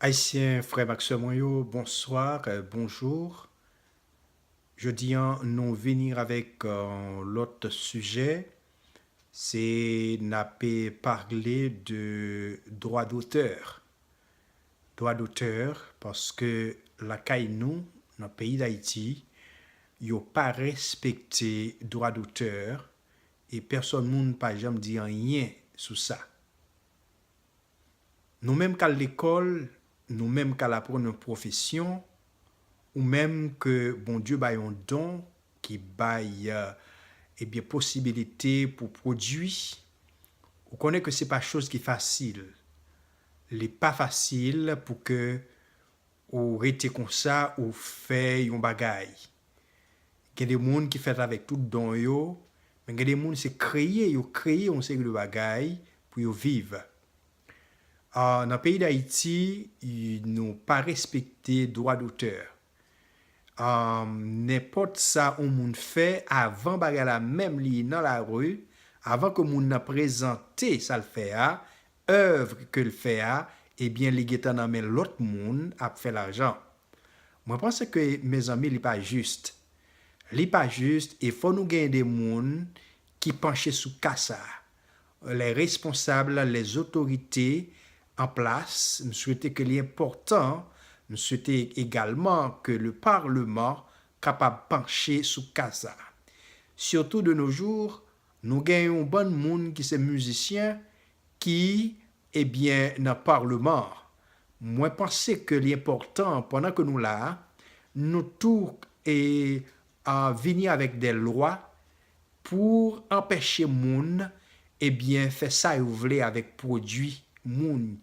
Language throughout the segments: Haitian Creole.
Ayisyen frè m ak sè mwen yo bonsoir, bonjour jodi an nou vini avèk yon lòt sijè se n ape parle de dwa dotè dwa dotè paske lakay nou nan peyi dayiti yo pa respekte dwa dotè e pèsòn moun pa janm di anyen sou sa. Nou menm k al lekòl, nou menm k al aprann yon pwofesyon, ou menm ke Bondye bay yon don ki bay ebyen posibilite pou pwodui, ou konnen ke se pa choz ki fasil. Li pa fasil pou ke Ou rete konsa ou fè yon bagay. Gen de moun ki fèt avèk tout don yo, men gen de moun se kreye yo kreye yon seri de bagay pou yo viv. Nan peyi Dayiti nou pa respekte dwa dotè. Nenpòt sa yon moun fè avan bagay la menm li nan lari, avan ke moun nan prezante sa l fè a, oeuvre ke l fè a ebyen li gentan nan men lòt moun ap fè lajan. Mwen panse ke mezanmi li pa juste. Li pa juste e fò nou genyen de moun ki panche sou ka sa. Les responsables, les autorités en place, m swete ke li enpòtan, m swete egalman ke le parlement kapab panche sou ka sa. Surtout de nos jours, Nou gen yon bann moun ki se mizisyen ki ebyen nan parleman an. Mwen panse ke li enpòtan pandan ke nou la a, nou tou e a vini avèk dè lwa pou anpèche moun ebyen fè sa yo vle avèk pwodui moun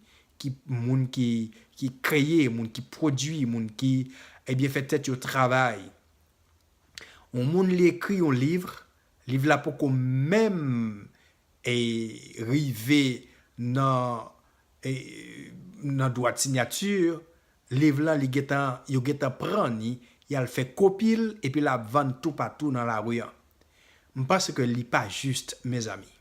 ki moun ki ki kreye, moun ki pwodui, moun ki ebyen fè tèt yo travay. Yon moun li ekri yon livre, Liv la poko menm rive nan dwat sinyati liv lan li gentan yo gentan pran ni yal fè kopi l epi lap vann toupatou nan lari an m panse ke li pa jis mezanmi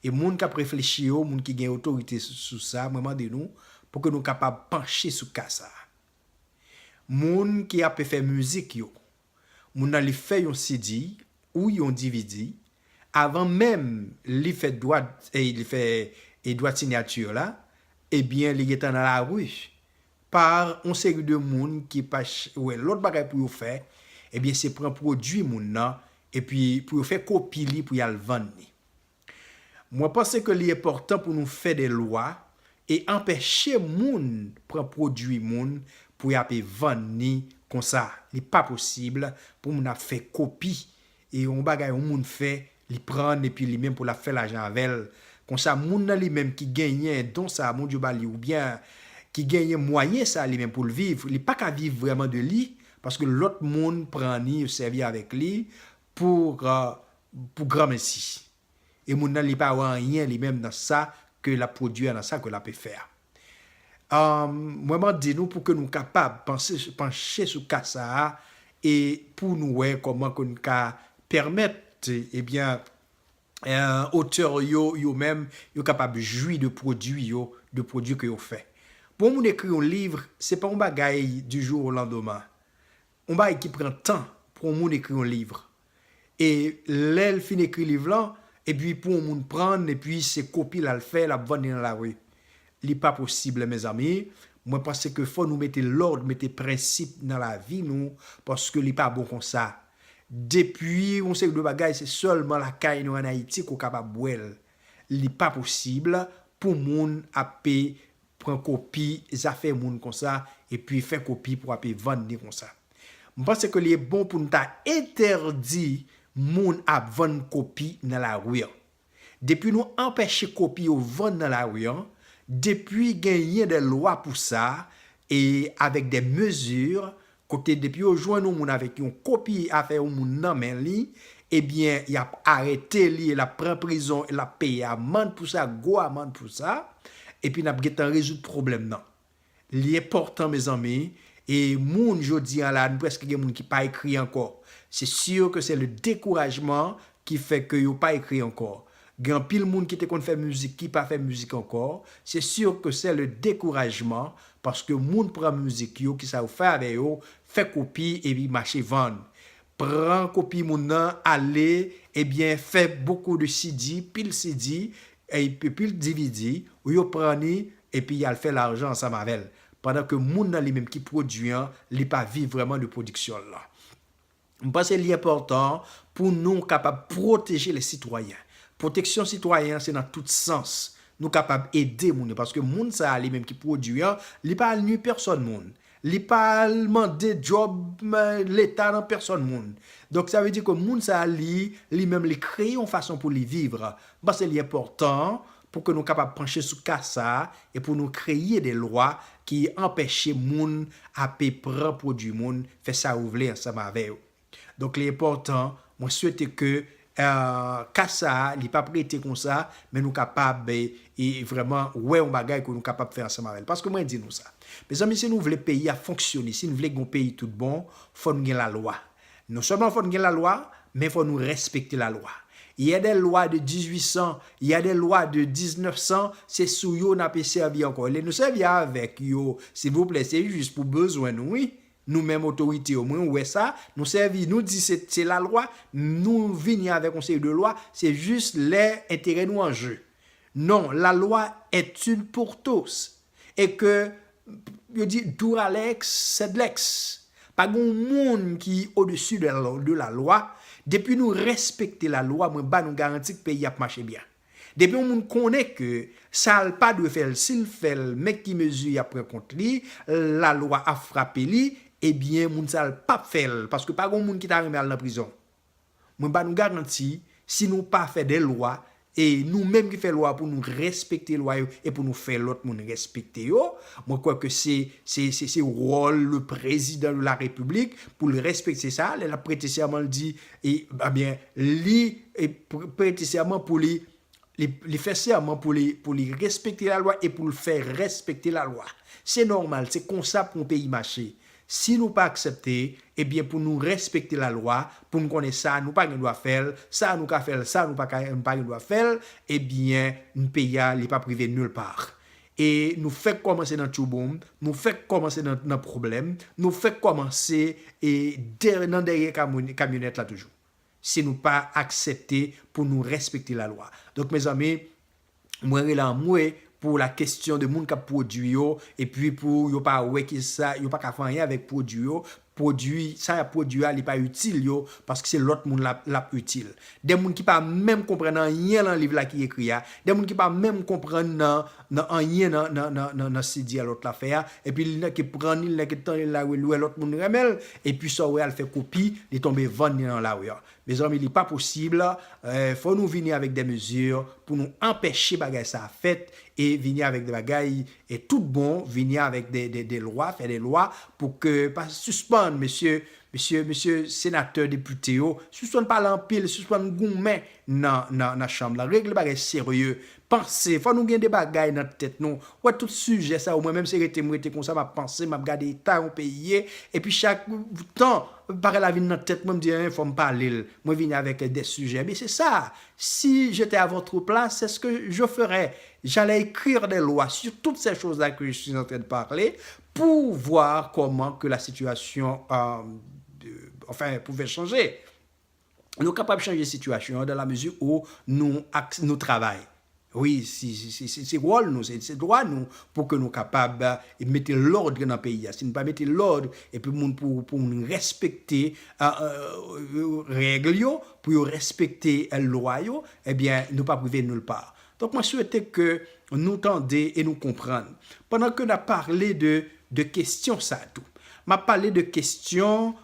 e moun kap reflechi yo moun ki gen otorite sou sa mwen mande nou pou ke nou kapab panche sou ka sa moun ki ape fè mizik yo Moun nan li fè yon CD ou yon dvd avan menm li fè dwat li fè e dwat signature la ebyen li gentan nan la rue par yon seri de moun ki pa wè lòt bagay pou yo fè ebyen se pran pwodwi moun nan epi pou yo fè kopi li pou yal vann li. Mwen panse ke li enpòtan pou nou fè de lwa e anpèche moun pran pwodui moun pou y ape vann ni konsa. Li pa posib pou moun ap fè kopi e yon bagay yon moun fè li pran n epi li menm pou l ap fè lajan avè l. Konsa moun nan li menm ki genyen don sa Bondye ba li oubyen ki genyen mwayen sa li menm pou l viv, li pa ka viv vrèman de li paske lòt moun pran ni yo sèvi avèk li Pou pou granmesi. E moun nan li pa wè anyen li menm nan sa ke lap pwodui a nan sa ke lape fè a. Umm mwen mande nou pou ke nou kapab panse panche sou ka sa a e pou nou wè kòman ke nou ka pèmèt ebyen otè yo yo menm yo kapab jwi de pwodui yo de pwodui ke yo fè. Pou yon moun ekri yon liv se pa yon bagay du jour au lendemain. yon bagay ki pran tan pou yon moun ekri yon liv. E lè l fin ekri liv lan, epi pou yon moun pran l, epi se kopi l al fè, l ap vann li nan lari. Li pa posib mezanmi. Mwen panse ke fò nou mete lòd, mete prensip nan lavi nou, paske li pa bon konsa. Depi yon seri de bagay se sèlman lakay nou an Ayiti ke w kapab wè l. Li pa posib pou moun ap pran kopi zafè moun konsa epi fè kopi pou ape vann ni konsa. M panse ke li e bon pou n ta entèdi moun ap vann kopi nan lari an. Depi nou anpèche kopi yo vann nan lari an, depi genyen de lwa pou sa e avèk de mezi kote depi yo jwenn yon moun avèk yon kopi afè yon moun nan men li, ebyen yap arete li e lap pran prizon e lap peye amand pou sa, gwo amand pou sa, epi nap gentan rezoud pwoblèm nan. Li enpòtan mezanmi, e moun jodi an la nou prèske gen moun ki pa ekri ankò. Se sur ke se le dekourajman ki fè ke yo pa ekri ankò. Gen anpil moun ki te konn fè mizik ki pa fè mizik ankò, se sûr ke sè le dekourajman paske moun pran mizik yo kisa yo fè avè yo, fè kopi epi mache vann. Pran kopi moun nan ale ebyen fè bokou de CD, pil CD, epi pil DVD, ou yo pran ni epi yal fè lajan ansanm avèl. Pandan ke moun nan li menm ki pwodui an li pa viv vrèman de pwodiksyon l lan. M panse li enpòtan pou nou kapab pwoteje lè sitwayen. Pwoteksyon sitwayen an se nan tout sans. Nou kapab ede moun yo paske moun sa a li menm ki pwodui an, li pa al nui pèsòn moun. Li pa al mande djòb leta nan pèsòn moun. Donk sa vle di ke moun sa a li, li menm li kreye yon fason pou li viv. M panse li enpòtan Pou ke nou kapab panche sou ka sa a e pou nou kreye de lwa ki anpeche moun ape pran pwodui moun, fè sa yo vle ansanm avè yo. Donk li enpòtan, mwen swete ke ka sa a li pap rete konsa, men nou kapab vrèman wè yon bagay ke nou kapab fè ansanm avè l. Paske mwen di nou sa, mezanmi si nou vle peyi a fonksyone, si nou vle gen yon peyi tout bon, fò nou gen lalwa. Non sèlman fò n gen lalwa, men fò nou rèspekte lalwa. Il y a des lois de 1800, il y a des lois de 1900, se sou yo n ape sèvi ankò. Lè nou sèvi avèk yo, silvouplè, se jis pou bezwen nou wi. Nou menm otorite yo, mwen wè sa, nou sèvi, nou di se se lalwa, nou vini avèk yon seri de lwa, se jis lè enterè nou an je. Non, la loi est une pour tous. E ke yo di dura lex sed lex. Pa gen yon moun ki odesi de la lwa, depi nou respekte la lwa mwen ba nou garanti ke peyi a ap mache byen. Depi yon moun konnen ke sa l pa dwe fè l si l fè l men ki mezi y ap pran kont li, la lwa ap frape li, ebyen moun sa l pap fè l paske pa gen yon moun ki ta renmen al nan prizon. Mwen ba nou garanti, si nou pa fè de lwa, e nou menm ki fè lwa pou nou respekte lwa yo e pou nou fè lòt moun respekte yo, mwen kwè ke se se wòl le prezidan de la repiblik pou l respekte sa, lè l ap prete sèman l di, e byen li prete sèman pou li li fè sèman pou li respekte lalwa e pou l fè respekte lalwa. Se nòmal, se konsa pou yon peyi mache. Si nou pa aksepte, ebyen pou nou respekte lalwa, pou n konnen sa nou pa gen dwa fè l, sa nou ka fè l, sa nou pa gen dwa fè l, ebyen peyi a li p ap rive nil pa. E nou fèk kòmanse nan tchouboum, nou fèk kòmanse nan pwoblèm, nou fèk kòmanse nan dèyè kamyonèt la toujou. si nou pa aksepte pou nou respekte la lwa. Donk mezanmi mwen rele anmwe pou la kestyon de moun kap pwodwi yo epi pou yo pa wè ki sa yo paka fè anyen avèk pwodwi yo, pwodwi sa yap pwodwi a li pa itil yo paske se lòt moun lap itil. De moun ki pa menm konprann anyen lan liv la ki ekri a, de moun ki pa menm konprann nan. nan anyen nan nan nan nan nan cde a lòt la fè a epi li nan ke pran ni li nan ke tann li nan lari li wè lòt moun renmen l epi sa w wè a l fè kopi li tonbe vann li nan lari an mezanmi li pa posib fò nou vini avèk dè mezi pou nou anpèche bagay sa a fèt e vini avèk dè bagay e tout bon vini avèk dè dè dè lwa fè dè lwa pou ke pa sispann mesye mesye mesye senatè depite yo sispann pale anpil sispann goumen nan nan nan chanm la regle bagay serye Panse, fò nou gen de bagay nan tèt nou, wè tout sijè sa yo mwen menm se rete m rete konsa map panse map gade eta yon peyi ye epi chak tan bagay la vin nan tèt mwen m di en fòm pale l mwen vini avèk de sijè ebyen se sa si je te a votre place se ske je ferai j'allais ecrire des lois sur toutes ces choses là que je suis entrain de parler pour voir comment que la situation enfin pouvait changer. Nou kapab chanje sitiyasyon an dan la mezi ou nou ak nou travay. Wi, se wòl nou, se dwa nou pou ke nou kapab mete lòd nan peyi a. Si nou pa mete lòd epi moun pou moun respekte règle yo, pou yo respekte lwa yo, ebyen nou pap rive nil pa. Donk mwen swete ke nou tande e nou konprann. Pandan ke nap pale de de kestyon sa tou. Map pale de kestyon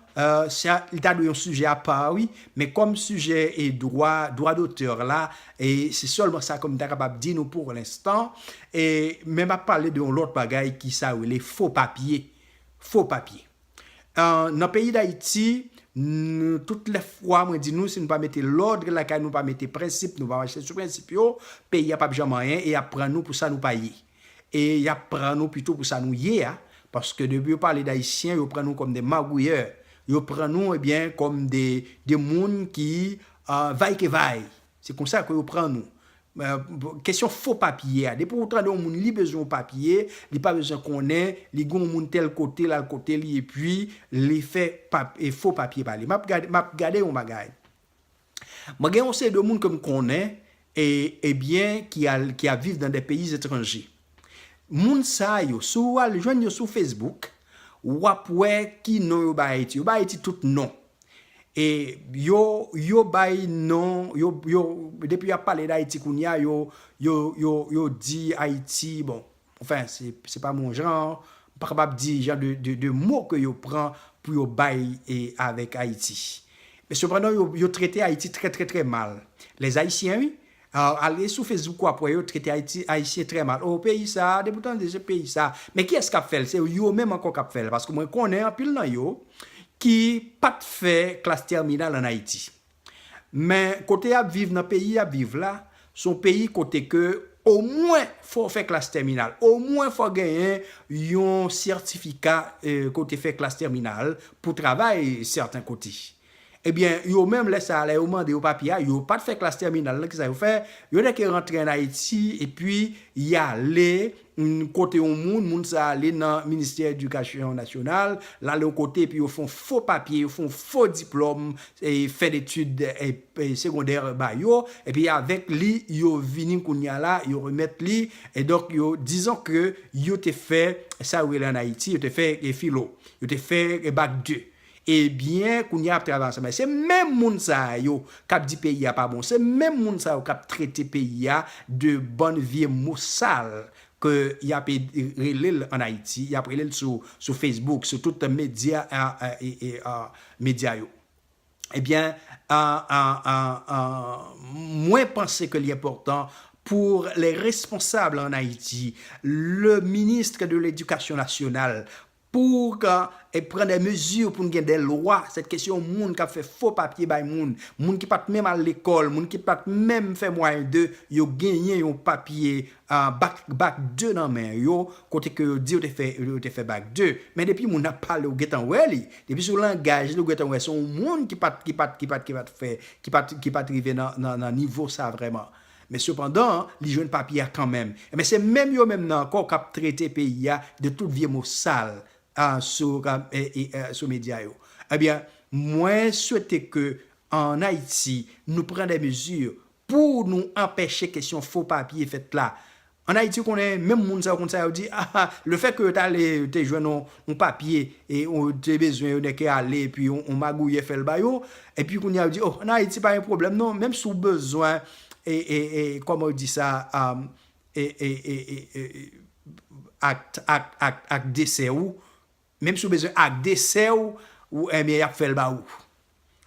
sa li ta dwe yon sijè apa wi, men kòm sijè e dwa, dwa dotè la e se sèlman sa ke m ta kapab di nou pou lenstan e men map pale de yon lòt bagay ki sa rele fo papye, fo papye. Nan peyi dayiti tout lè fwa mwen di nou si nou pa mete lòd lakay nou pa mete prensip nou pa mache sou prensip yo peyi a pap janm anyen e yap pran nou pou sa nou pa ye e yap pran nou pito pou sa nou ye a paske depi yo pale dayisyen yo pran nou kòm de magouyè yo pran nou ebyen kòm de moun ki vaykevay Se konsa ke yo pran nou. Kesyon fo papye a, depi ou tande yon moun li bezwen yon papye, li pa bezwen konnen, li gen yon moun tèl kote, l al kote li epi li fè fo papye ba li. M ap gade yon bagay. Mwen gen yon seri de moun ke m konnen, ebyen ki ap viv nan de peyi etranje. Moun sa yo si w al jwenn yo sou Facebook w ap wè ki non yo bay Ayiti. Yo bay Ayiti tout non. E yo yo bay non yo yo depi y ap pale dAyiti kounye a yo yo yo yo di Ayiti bon anfen se pa m on jan m pa kapab di jan de de mo ke yo pran pou yo bay e avèk Ayiti. Men sepandan yo yo trete Ayiti trè trè trè mal. Lèzayisyen wi Ale sou Facebook wap wè yo trete ayiti ayisyen trè mal oh peyi sa depi w tande se peyi sa men kiyès kap fèl se yo menm ankò kap fèl paske mwen konnen anpil nan yo ki pat fè klas tèminal an ayiti men kote yap viv nan peyi yap viv la son peyi kote ke omwen fò w fè klas tèminal omwen fò w genyen yon sètifika ke w te fè klas tèminal pou travay sèten kote Ebyen, yo menm lè sa a, lè yo mande yo papye a, yo pa t fè klas tèminal nan, ki sa yo fè? Yo nèke rantre ann Ayiti epi y ale kote yon moun, moun sa a ale nan Ministè Edikasyon Nasyonal, l ale yon kote epi yo fè yon fo papye, yo fè yon fo diplòm fen detid segondè ba yo, epi avèk li yo vini kounye a la, yo remèt li, donk yo dizon ke yo te fè sa yo rele ann Ayiti, yo te fè filo, yo te fè bac 2. Ebyen kounya ap travay ansanm. Se menm moun sa yo kap di peyi a pa bon, se menm moun sa yo kap trete peyi a de bann vye mo sal ke yap rele l an Ayiti, yap rele l sou Facebook, sou tout medya medya yo. Ebyen mwen panse ke li enpòtan pou les responsables en Haïti, le ministre de l'Education nationale Pou ou ka pran de mezi pou n gen de lwa, sèt ke se yon moun k ap fè fo papye bay moun, moun ki pat menm al lekòl, moun ki pat menm fè mwayen 2, yo genyen yon papye bak bak 2 nan men yo, kote ke yo di yo te fè yo te fè bak 2. Men depi moun ap pale ou gentan wè li, depi sou langaj li ou gentan wè se yon moun ki pat ki pat ki pat ki pat fè ki pat ki pat rive nan nan nivo sa vrèman. Men sepandan, li jwenn papye a kanmenm. Enben, se menm yo menm nan ankò k ap trete peyi a de tout vye mo sal sou medya yo. Ebyen, mwen swete ke an Ayiti, nou pran dè mezi pou nou anpeche kesyon fo papye fèt la. An Ayiti ou konnen menm moun sa yo konn sa yo di ah ah le fait que yo t ale yo te jwenn yon papye e yo te bezwen yo nèke ale epi yon magouyè fè l ba yo epi kounye a yo di oh an Ayiti pa gen pwoblèm non menm si w bezwen e kòman yo di sa e e e e ak ak ak ak desè ou. Menm si w bezwen ak 2 sè w ou enbyen yap fèl ba ou.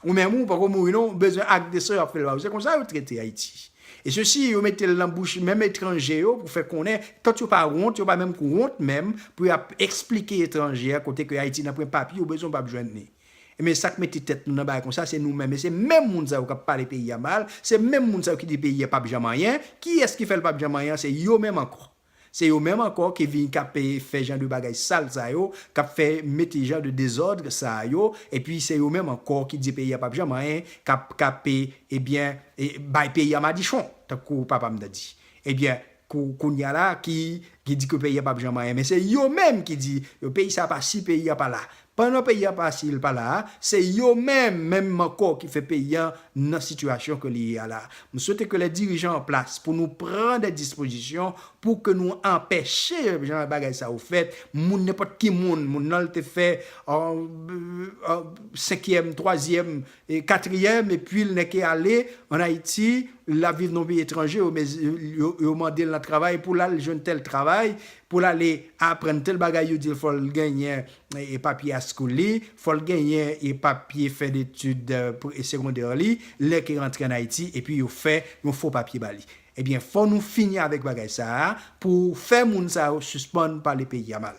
Ou menm ou poko mouri non ou bezwen ak 2 sè w yap fèl ba ou se konsa yo trete ayiti. E sesi yo metel nan bouch menm etranje yo pou fè konnen tant yo pa wont yo pa menm k wont menm pou yap esplike etranje a kote ke ayiti nan pwen papye ou bezwen ou pap jwenn ni. Enbyen sak mete tèt nou nan bagay konsa se nou menm e se menm moun sa yo kap pale peyi a mal se menm moun sa yo ki di peyi a pap janm anyen kiyès ki fèl pap janm anyen se yo menm ankò. Se yo menm ankò ki vin kap fè jan de bagay sal sa yo, kap fè mete jan de dezodre sa yo, epi se yo menm ankò ki di peyi a pap janm anyen, kap kap ebyen bay peyi a madichon tankou papa m ta di. Ebyen kou kounya la ki di ke peyi a pap janm anyen men se yo menm ki di yo peyi sa pa si peyi a pa la Pandan peyi a pa si l pa la a, se yo menm menm ankò ki fè peyi an nan sitiyasyon ke li ye a la. M swete ke lè dirijan an plas pou nou pran dè dispozisyon pou ke nou anpèche jan de bagay sa yo fèt, moun nenpòt ki moun, moun nan l te fè senkyèm, twazyèm, E katriyèm e pwil nè ke ale an Ayiti, lap viv nan peyi etranje, yo mezi, yo, yo mande'l nan travay pou l'al jwenn tèl travay, pou l'ale aprann tèl bagay yo di'l fò'l genyen e papye high school li, fò'l genyen e papye fen etid e segondè li, lè ke rantre an Ayiti epi yo fè yon fo papye ba li. Ebyen fò nou fini avèk bagay sa a pou fè moun sa yo sispann pale peyi a mal.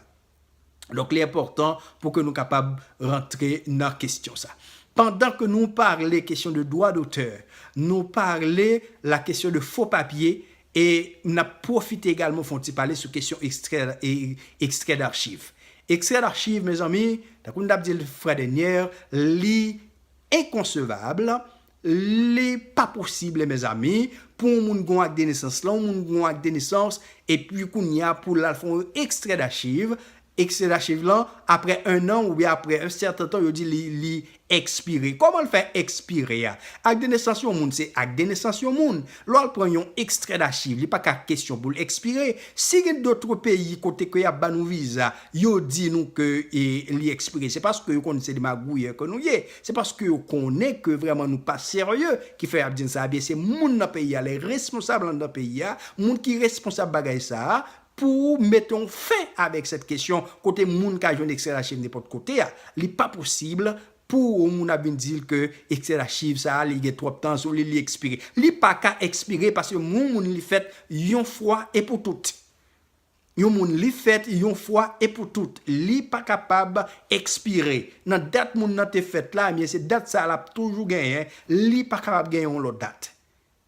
Donk li enpòtan pou ke nou kapab rantre nan kestyon sa. Pandan ke nou parle kestyon de dwa dotè, nou parle la kestyon de fo papye e n ap pwofite egalman fon ti pale sou kestyon ekstrè darchiv. Ekstrè darchiv mezanmi, tankou n t ap di l frè dènyè, li enkonsevab Li pa posible mes amis pou yon moun gen yon acte de naissance lan yon moun gen yon acte de naissance epi kounya pou lal fè yon extrait d'archive, extrait d'archive lan aprè 1 an oubyen aprè un certain temps yo di li li expire kòmanl fè expire a? Acte de naissance yon moun se acte de naissance yon moun lè wal pran yon extrait d'archive li paka kesyon poul expire si gen d'autres pays kote ke yap banou visa yo di nou ke li expire se paske yo konn se de magouyè ke nou ye Se paske yo konnen ke vrèman nou pa serye ki fè y ap di n sa a byen se moun nan peyi a, lè responsab anndan peyi a, moun ki responsab bagay sa a pou mete yon fen avèk sèt kesyon kote moun ka jwenn ekstrè lachiv nenpòt kote a. Li pa posib pou yon moun ap vin di l ke ekstrè lachiv sa a li gen twòp tan sou li, li ekspire. Li pa ka ekspire paske yon moun li fèt yon fwa e pou tout. Yon moun li fèt yon fwa e pou tout, li pa kapab ekspire. Nan dat moun nan te fèt la, ebyen se dat sa a l ap toujou genyen, li pa kapab gen yon lòt dat.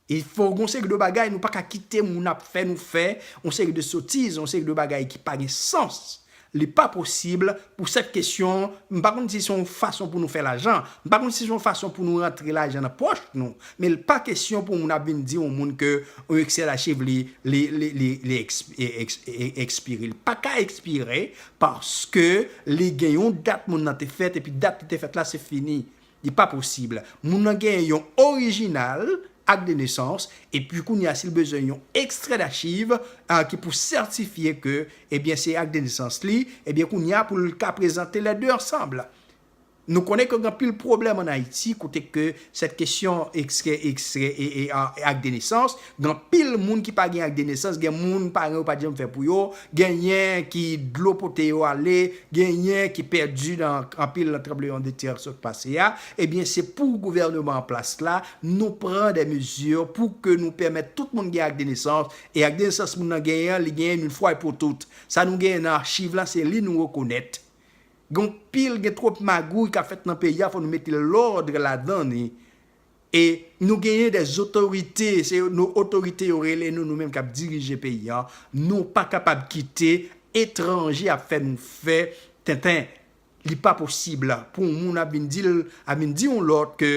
E fò gen yon seri de bagay nou pa ka kite moun ap fè nou fè, yon seri de sotiz, yon seri de bagay ki pa gen sans, li pa posib Pou sèt kesyon, m pa konn si se yon fason pou nou fè lajan, m pa konn si se yon fason pou nou rantre lajan nan pòch nou, men l pa kesyon pou moun ap vin di yon moun ke yon Excel achiv li, li, li, li, li ekspire. Li pa ka ekspire paske li gen yon dat moun nan te fèt epi dat li te fèt la se fini. Li pa posib. Moun nan genyen yon orijinal Acte de naissance epi kounye a si l bezwen yon extrait d'archive ki pou sètifye ke ebyen se Acte de naissance li, ebyen kounye a pou l ka prezante les deux ensemble. Nou konnen ke gen anpil pwoblèm an Ayiti kote ke sèt kesyon extrait Acte de naissance Gen anpil moun ki pa gen ak de nesans, gen moun paran yo pat janm fè pou yo, genyen ki dlo pote yo ale, genyen ki pèdi nan anpil nan tranbleyon de tè k sot pase a, ebyen se pou gouvèneman an plas la nou pran de mezi pou ke nou pèmèt tout moun gen ak de nesans, e ak de nesans moun nan genyen an li genyen une fwa e pou tout. Sa nou genyen nan archiv la se li nou rekonèt. Gen anpil gen twop magouy kap fèt nan peyi a fò nou mete lòdre ladan li E nou genyen de zotorite, se nou otorite yo rele nou, nou menm kap dirije peyi an, nou pa kapab kite etranje ap fè nou fè tenten, li pa posib pou yon moun ap vin di yon lòt ke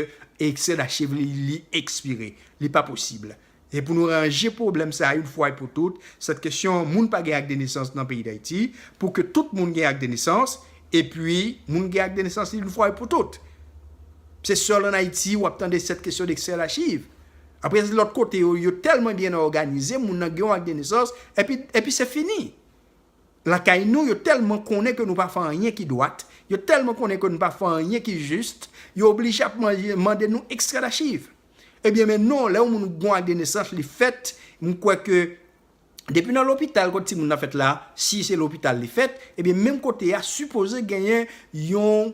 ekse dachevri li ekspire, li pa posib. E pou nou ranje pwoblèm sa youn fwa e pou tout, sèt kesyon moun pa gen akdenesans nan peyi Dayiti, pou ke tout moun gen akdenesans, e pi moun gen akdenesans li youn fwa e pou tout. Se sèl an Ayiti wap tande sèt kesyon de sèl achiv. Apre se lòt kote yo, yo tèlman byen òganize, moun nan gen youn akdenesans, e pi, e pi se fini. Lakay nou, yo tèlman konnen ke nou pa fè anyen ki dwat, yo tèlman konnen ke nou pa fè anyen ki jis, yo oblije ap manje, mande nou ekstradachiv. Ebyen men non lè yon moun gon ak de nesans li fèt m kwè ke depi nan lopital kote timoun nan fèt la si se lopital li fèt ebyen menm kote a sipoze genyen yon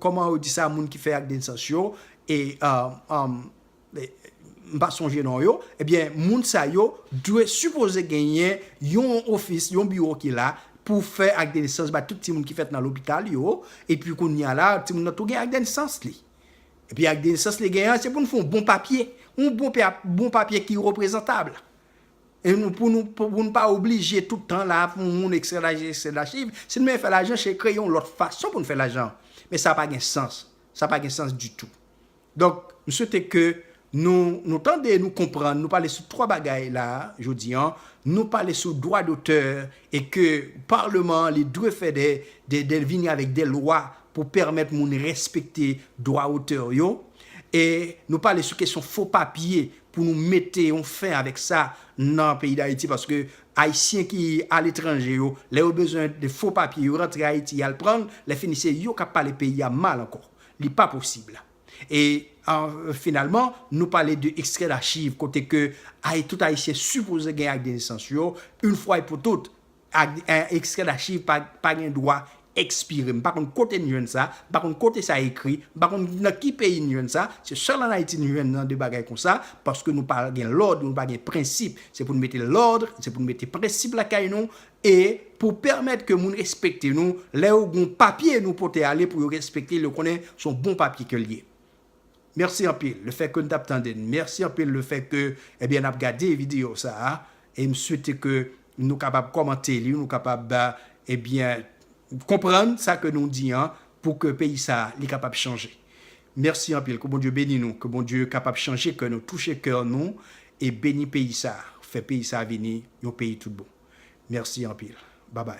kòman yo di sa moun ki fè ak de nesans yo e m pa sonje non yo ebyen moun sa yo dwe sipoze genyen yon ofis yon biwo ki la pou fè ak de nesans bay tout timoun ki fèt nan lopital yo, epi kounye a la, timoun nan tou gen ak de nesans li. Epi ak de nesans li gen an, se pou nou fè yon bon papye, yon bon papye ki reprezantab, e nou pou nou, pou nou pa oblije tout tan la pou yon moun ekstrè lajan, ekstrè lachiv, si nou menm fè lajan, se kreye yon lòt fason pou nou fè lajan, men sa pa gen sans, sa pa gen sans ditou. Donk, m swete ke nou, nou tande, nou konprann, nou pale sou 3 bagay la a, jodi an. Nou pale sou dwa dotè e ke Parleman an li dwe fè de, de, de vini avèk de lwa pou pèmèt moun respekte dwa otè yo. E nou pale sou kesyon fo papye pou nou mete yon fen avèk sa nan peyi Dayiti paske Ayisyen ki aletranje yo, lè yo bezwen de fo papye, yo rantre Ayiti y al pran l, lèfini se yo k ap pale peyi a mal ankò. li pa posib. E finalman, nou pale de ekstrè dachiv kote ke ay tout ayisyen sipoze gen ak de nesans yo, yn fwa e pou tout, ekstrè dachiv pa gen dwa ekspire. M pa konn kote n jwenn sa, m pa konn kote sa ekri, m pa konn nan ki peyi n jwenn sa, se sèl an Ayiti n jwenn jan de bagay konsa, paske nou pa gen lòd, nou pa gen prensip. Se pou n mete lòd, se pou n mete prensip lakay nou, E pou pèmèt ke moun respekte nou, lè yo gon papye nou pote ale pou yo respekte l yo konnen se yon bon papye ke l ye. Mèsi anpil le fè ke n tap tande n. Mèsi anpil le fè ke ebyen nap gade video sa a. E m swete ke nou kapab kòmante li, nou kapab ebyen konprann sa ke nou di an pou ke peyi sa a li kapab chanje. Mèsi anpil ke Bondye beni nou, ke Bondye kapab chanje kè nou, touche kè nou e beni peyi sa a, fè peyi sa a vini yon peyi tout bon. Merci anpil babay.